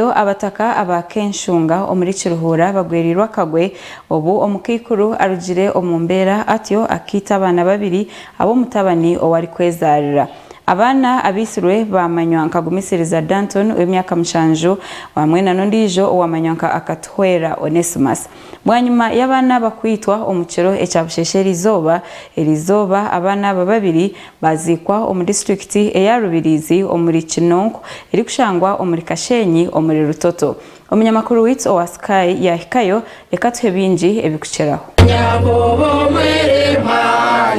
Reero abataka aba Kenshunga omuri Kiruhuura bagwereirwe akagwe obu omukaikuru arugire omu mbeera atyo akaita abaana babiri ab'omutabani ou arikwezaarira. Abaana abaitsirwe baamanywa nka Gumisiriza Danton ow'emyaka mushanju, bamwena n'ondiijo owaamanywa nka Akatuhwera Onesmus. Bwanyima y'abaana aba kwitwa omu kiro ekya busheshe eri izooba, eri izooba abaana aba babiri baaziikwa omu disiturikiti eya Rubirizi omuri Kinonko erikushangwa omuri Kasheenyi omuri Rutoto. Omunyamakuru waitu owa Sky yaahikayo, reka atuhe bingi ebikukiraho. Yakobo mweremwa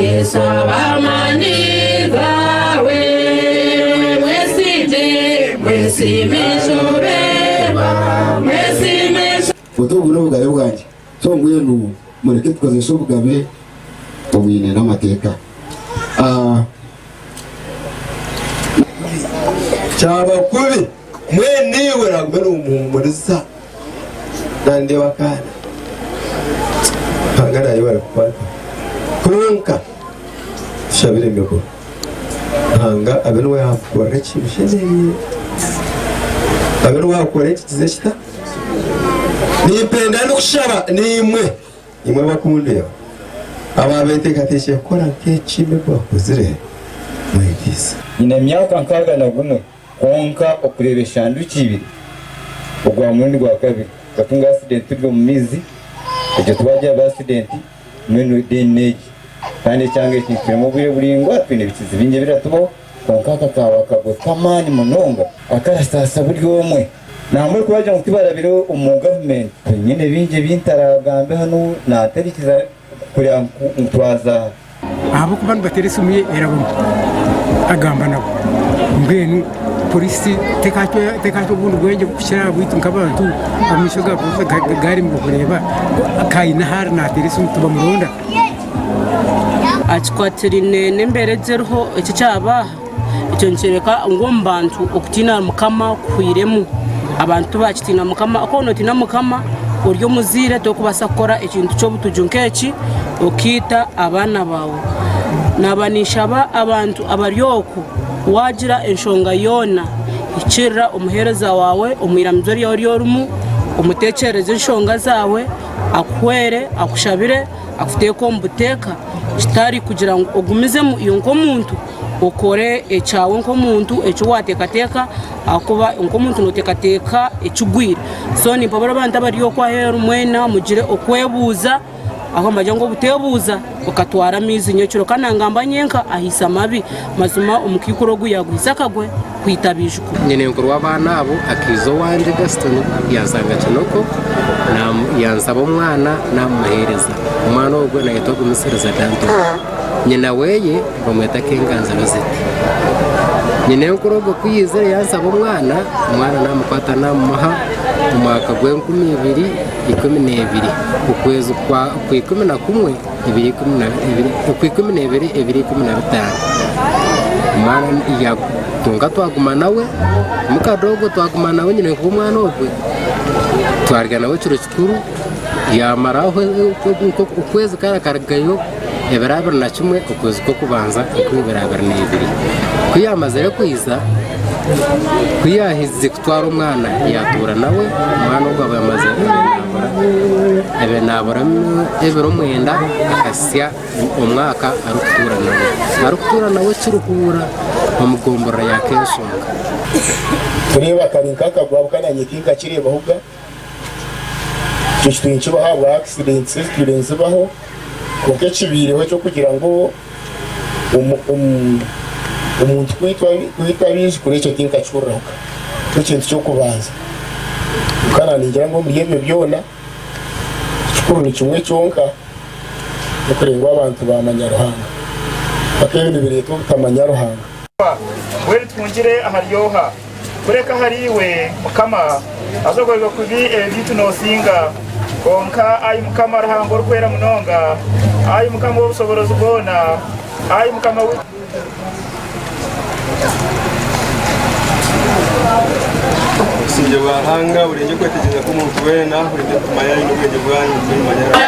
Yesu abamani bawe mwesige mwesime shoberwa mwesime Oti obu n'obugabe bwangye. So mbwenu mureke tukozese obugabe obwine n'amateeka. A. Kyaba kubi, mwene iwe oragume nomuhumuriza. Nandeba akaana. Ruhanga naija kukukwata. Kwonka, tushabire emigura. Ruhanga abe niwe yaakukorera ekibi oshemereirwe. Abe niwe yaakukorera ekikiza ekita. Nimpenda n'okushaba naimwe, imwe abakundeba, abaabeteekateekire kukora nk'eki emi eki bakozire, mwegyeise. Nyine emyaka nkaaga na gumwe, kwonka okureeba eshanduki ibiri ogwa murundi gwa kabiri. Twatunga asidenti turi omu maizi, egyo twagira ba asidenti. Mbwenu then n'egi. Kandi ekyanga eki nikitwema obwire buraingwa, twine ebikizi bingi ebiratubaho, kwonka aka kaaba akagwe k'amaani munonga akarasaasa buri omwe. Nambwenu ku baagira ngu tibarabire omu gavumenti, nyowe nyine bingi ebi ntaraagambe hanu naatarikiza kureba ngu twaza aha. Ahabw'okuba nibateera esimu ye eraboma, agamba nabo. Mbwenu. Pooriisi tekaaha obundi bwengye kukira aha bwaitu nk'abantu, amaisho ga pooriisi gaarema kureeba ku haine ou ariyo naateera esimu tibamuronda? Kikwatiraine n'embeera egi eriho eki ekyabaaha, ekyo nikyoreka ngu omu bantu okutiina Mukama kuhwiremu. Abantu tibakitiina Mukama, ku waaba notiina Mukama ori omuzaire torikubaasa kukora ekintu ky'obutugyo nk'eki okaita abaana baawe. Naaba ninshaba abantu abari okwo. Waagira enshonga yoona, ikirira omuheereza waawe omu iramizo ryaawe ry'orimu, omuteekyerereze enshonga zaawe, akuhwere, akushabire, akuteeke omu buteeka, kitari kugira ngu ogumizemu iwe nk'omuntu, okore ekyawe nk'omuntu eki waateekateeka ahakuba nk'omuntu nooteekateeka ekigwire. So nimpabura abantu abari okwo aheeru mwena mugire okwebuuza. Aho mbagira ngu obuteebuuza okatwara amaizi nyekiro kandi nangamba nyenka ahaise amabi. Mazima omukaikuru ogu yaaguhitse akagwe kwita abaijukuru. Nyinenkuru w'abaana abo akaija owangye, Gaston, yanshanga Kinoko yansaba omwana naamumuheereza. Omwana ogwo naayetwa Gumisiriza Danton. Nyina weye bamweta Kenganzi Rosette. Nyinenkuru ogwo ku yaizire yansaba omwana, omwana naamukwata naamumuha omwaka gw'enkumi ibiri ikumi n'ebiri, okwezi kwa ikumi na kumwe ebiro ikumi na bibiri, okwa ikumi n'ebiri ebiro ikumi na bitaano. Omwana kwonka twaguma nawe, mukadoogo twaguma nawe nyine nkuha omwana ogwe, twarya nawe ekiro kikuru, yamara aho okwezi kare akarugayo. Ebiro abiri na kimwe okwezi kw'okubanza okw'eibiro abiri na ibiri. Ku yaamazire kwija, ku yaahikize kutwara omwana, yaatuura nawe, omwana ogwo aba yamazire kunaabura. Abe naabura ebiro mwenda akahitsya omwaka arikutuura nawe. Arikutuura nawe kirihuura omu gomborora ya Kenshoonga. Kureeba kari nk'akagwabuka naanye tinkakireebaho ga. Ekyo kitumi nikibaho ahabwa akisidenti ezitwire nizibaho, kwonka ekibaireho eky'okugira ngu omuntu kwitwa abaijukuru ekyo tinkakihuriraho ka, nikyo kintu ky'okubanza. Kwonka naaningira ngu omuri ebyo byona, ekikuru ni kimwe kyonka, n'okureeba ngu abantu baamanya Ruhanga. Mpaka ebyo nibireeta obutamanya Ruhanga? Kureka ahari iwe, Mukama, haza ogoyerwe kubi ebi byaitu nosinga. Kwonka Ai Mukama Ruhanga Orikwera Munonga, Ai Mukama ow'Obushoborozi Bwona, Ai Mukama waitu Obusingye bwa Ruhanga burengye okwetegyereza kw'omuntu weena, burengye emitima yanyu n'obwengye bwanyu nitwe nimumanya Ruhanga.